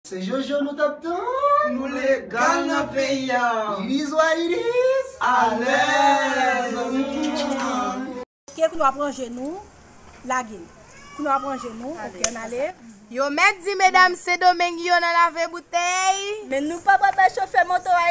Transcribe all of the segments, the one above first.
Se jojo nou tap tann. Nou legal nan peyi a. Iris wa iris. Alèz. Ke kounya wap ranje nou lage. Kounya wap ranje nou ok an ale. Yo mèt di medam sendomeng yo nan lave boutèy. Men nou pa pral bay chofè moto a.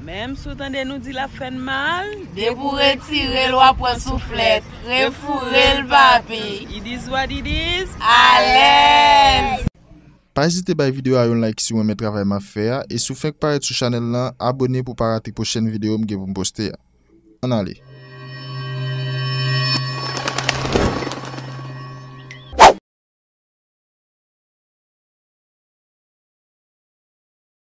Menm si w tande nou di l ap fè n mal. Depi w retire l w ap pran souflèt. Refoure l papi. It is what it is. Alèz! Pa ezite bay video a yon like siw renmen travay map fè a e si w fenk parèt sou chanèl lan abone pou w pa rate pwochèn video m gen pou m poste a Ann ale.